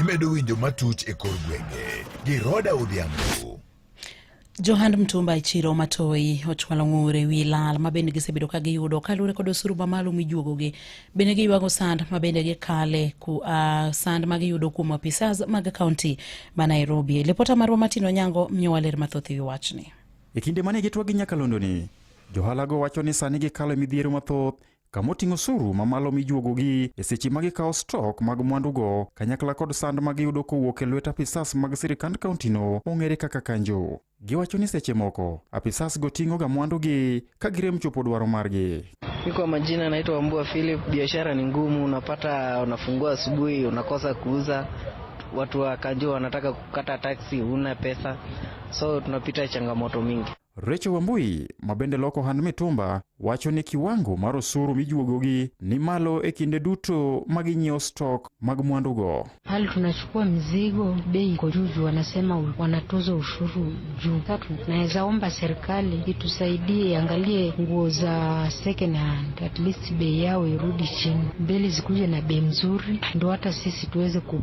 Imedo winjo matuch e kor gwenge gi Roda Odhiambo. Johand Mtumba e chiro Matoi ochwalo ng'ur e wi lal ma bende gisebedo ka giyudo kaluwore kod osuru mamalo mijuogogi. Bende giywago sand ma bende gikale ku, uh, sand ma giyudo kuom apisas mag kaunti ma Nairobi. Lipota marwa Martin Onyango miyowa ler mathoth e wi wachni. E kinde mane gitwa gi nyakalondoni, johalago wacho ni sani gikalo e midhiero mathoth kama oting'o osuru mamalo mijuogogi e seche ma gikawo stok mag mwandugo kanyakla kod sand ma giyudo kowuok e lwet apisas mag sirikand kauntino mong'ere kaka kanjo. Giwacho ni seche moko apisasgo ting'oga mwandugi ka girem chopo dwaro margi. Mi kwa majina naitwa Mbua Philip. Biashara ni ngumu, unapata unafungua asubuhi unakosa kuuza, watu wa kanjo wanataka kukata taksi, huna pesa, so tunapita changamoto mingi. Rachel Wambui ma bende loko ohand mitumba wacho ni kiwango mar osuru mijuogogi ni malo e kinde duto ma ginyiewo stok mag mwandugo. Hali tunachukua mzigo, bei iko juu juu, wanasema u- wanatoza ushuru juu. Tatu, naweza omba serikali itusaidie, iangalie nguo za second hand, at least bei yao irudi chini, mbele zikuje na bei mzuri, ndo hata sisi tuweze ku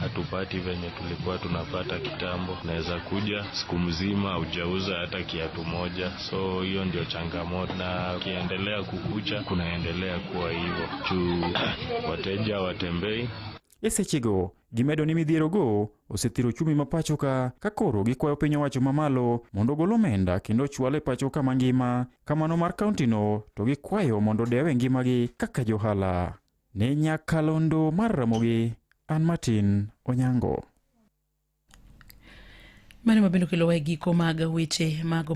hatupati venye tulikuwa tunapata kitambo. Naweza kuja siku mzima haujauza hata kiatu moja, so hiyo ndio changamoto, na ukiendelea kukucha kunaendelea kuwa hivyo juu wateja watembei e sechego gimedo ni midhierogo osethiro ochumi ma pachoka ka koro gikwayo piny owacho mamalo mondo ogol omenda kendo ochwal e pachoka mangima kamano mar kauntino to gikwayo mondo odewe ngimagi kaka johala Ne nyakalondo mar Ramogi, an Martin Onyango. Mano ma bende okelowa e giko mag weche mago